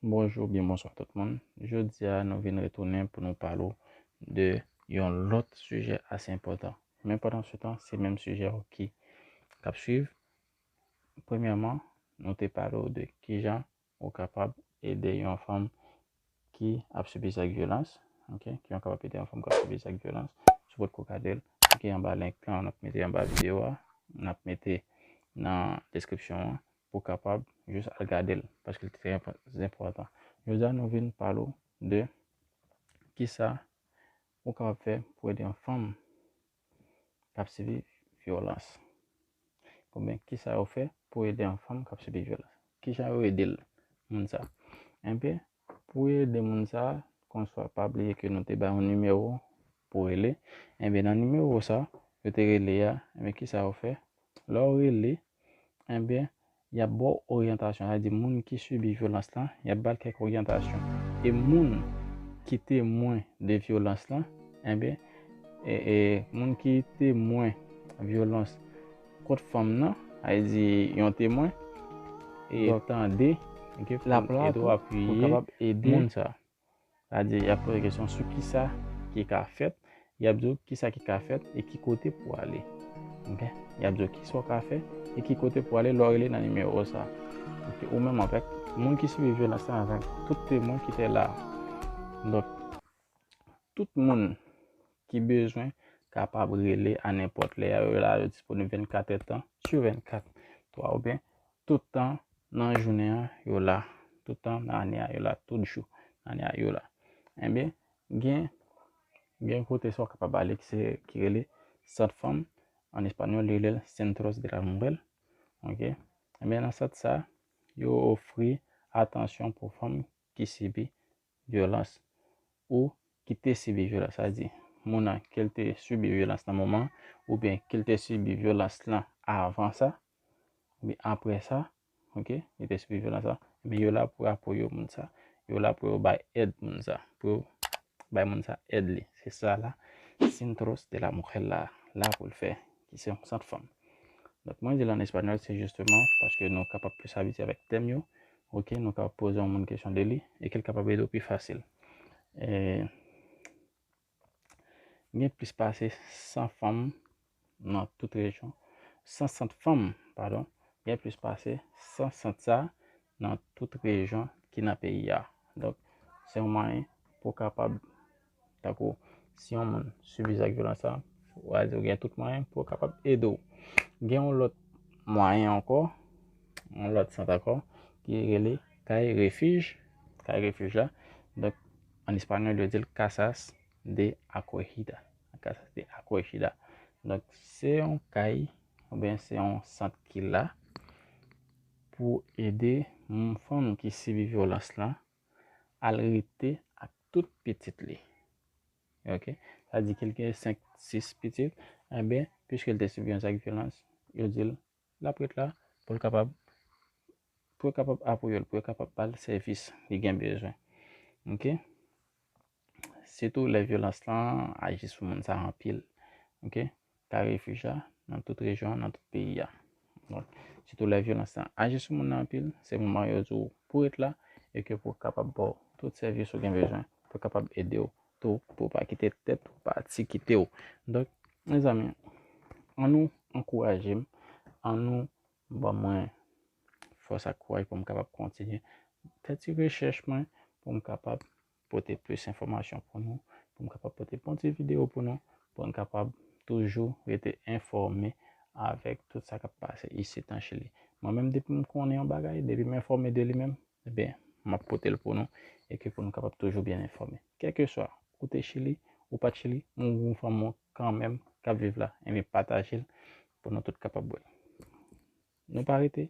Bonjou oubyen bonswa tout moun. Jodi a nou vin retounen pou nou pale w de yon lòt sijè ase enpòtan. Men pandan se tan, se menm sijè yo ki kap swiv. Premyèman, nou te pale w de ki jan ou kapab ede yon fanm ki ap sibi zak vyolans. Ok, ki jan ou kapab ede yon fanm ki ap sibi zak vyolans. Si w potko gade l, klike anba link lan, n ap mete anba videyo a, n ap mete nan deskripsyon an. pou kapab jis al gadel paske li te trè enpòtan jodi a nou vin pale ou de kisa ou kapab fè pou ede yon fanm kap sibi vyolans konbyen kisa yo fè pou ede yon fanm kap sibi vyolans kijan yo ede l moun sa enbyen pou ede moun sa konswa pa bliye ke nou te bay yon nimewo pou rele enbyen nan nimewo sa yo te rele a enbyen kisa yo fè Lè w rele, enben, y ap ba w oryantasyon. Sa vle di moun ki sibi vyolans lan, y ap ba l kèk oryantasyon. E moun ki temwen de vyolans lan, enben, moun ki temwen vyolans kont fanm nan, sa vle di yon temwen, dwa tande, dwa apiye moun sa a. Sa-a-di, y ap poze kesyon sou ki sa ki ka fèt, y ap di w ki sa ki ka fèt e ki kote pou w ale. Ok? Y ap di w ki sa w ka fè e ki kote pou w ale lè w rele nan nimewo sa a. Ok? Ou menm avèk moun ki sibi vyolans lan, avèk tout temwen ki te la a. Donk, tout moun ki bezwen kapab rele a nenpòt lè. Yo la, yo disponib 24 èdtan sou 24. Ou konprann? Tout tan nan jounen an, yo la. Tout tan nan ane a, yo la. Tout jou nan ane a, yo la. Enben, gen yon kote sa w kapab ale ki se ki rele sant fanm. An espanyòl, yo rele l Centros de la Mujer. Ok? Enben, nan sant sa, yo ofri atansyon pou fanm ki sibi vyolans ou ki te sibi vyolans, sa vle di moun nan ke l te sibi vyolans nan moman an oubyen ke l te sibi vyolans lan avan sa oubyen apre sa, ok, li te sibi vyolans la, ebyen yo la pou apoye moun sa, yo la pou yo bay èd moun sa, pou yo bay moun sa èd li. Se sa la Centros de la Mujer la la pou l fè, ki se yon sant fanm. Donk mwen di l an espanyòl se jisteman paske nou kapab plis abitye avèk tèm yo, Ok, nou ka poze yon moun kesyon de li, e ke l kapab ede w pi fasil. E. Gen plis pase 100 fanm nan tout rejyon. 100 sant fanm, padon. Gen plis pase 100 sant sa nan tout rejyon ki nan peyi a. Donk, se yon mwayen pou w kapab Tankou, si yon moun sibi zak vyolans sa, ou a di ou gen tout mwayen pou yo kapab ede ou. Gen yon lòt mwayen ankò, yon lòt sant ankò, ki rele kay refij. Kay refij la, donk, an espanyòl yo di l casas de acogida. Casas de acogida. Donk, se yon kay, oubyen se yon sant ki la pou ede fanm ki sibi vyolans la, al rete ak tout pitit li. Ok, sa di ke li gen 5, 6 pitit, enben, piske li te sibi yon zak vyolans, yo di l, l ap ret la pou l kapab, pou yo kapab apoye l, pou yo kapab ba l sèvis li gen bezwen. Ok. Sitou lè vyolans lan aji sou moun sa anpil. Ok. Ka refij la nan tout rejyon an, nan tout peyi a. Donk, sitou lè vyolans lan aji sou moun nan anpil, se moman yo di ou pou ret la e ke pou kapab ba ou tout sèvis ou gen bezwen, pou kapab ede ou tou pou ou pa kite tèt ou pati kite ou. Donk, mezanmi, an nou ankouraje m, an nou ban mwen fòs ak kouraj pou m kapab kontinye fè ti rechèch mwen pou m kapab pote plis enfòmasyon pou nou, pou m kapab pote bon ti videyo pou nou, pou n kapab toujou rete enfòme avèk tout sa k ap pase isit an Chili. Mwen menm depi m konnen yon bagay, depi m enfòme de li menm, ebyen m ap pote l pou nou e ke pou nou kapab toujou byen enfòme. Kèlkeswa ou te Chili, ou pa t Chili, m ou m fanmi w kanmenm k ap viv la, enben pataje l pou nou tout kapab wè l. Nou pa rete,